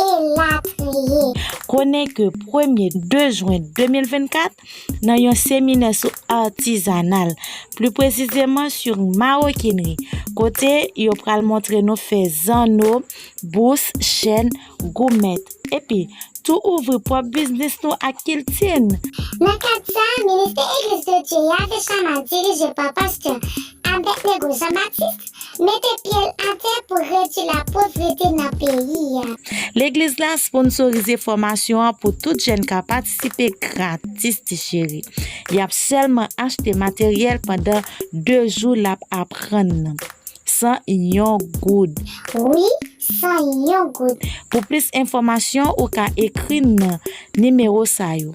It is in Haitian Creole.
elatriye. Konnen ke premye 2 jwen 2024, nan yon seminè sou artizanal, pli presizeman sur maroquinerie, kote yo pral montre nou fè zanno, bous, chèn, goumèt, epi tou ouvri pwòp biznis nou ak kilti n. Nan kad sa, Ministè Eglise de Dieu a te chama dirije pa Pastè Abednego Jean Baptiste, Mete pye l atè pou redui la povrete nan peyi a. Legliz la sponsorize fòmasyon an pou tout jèn ka patisipe gratis ti cheri. Yap sèlman achte materyèl pandan 2 jou lap aprann nan. San yon goud. Wi, san yon goud. Pou plis enfòmasyon ou ka ekri n nan nimewo sa yo.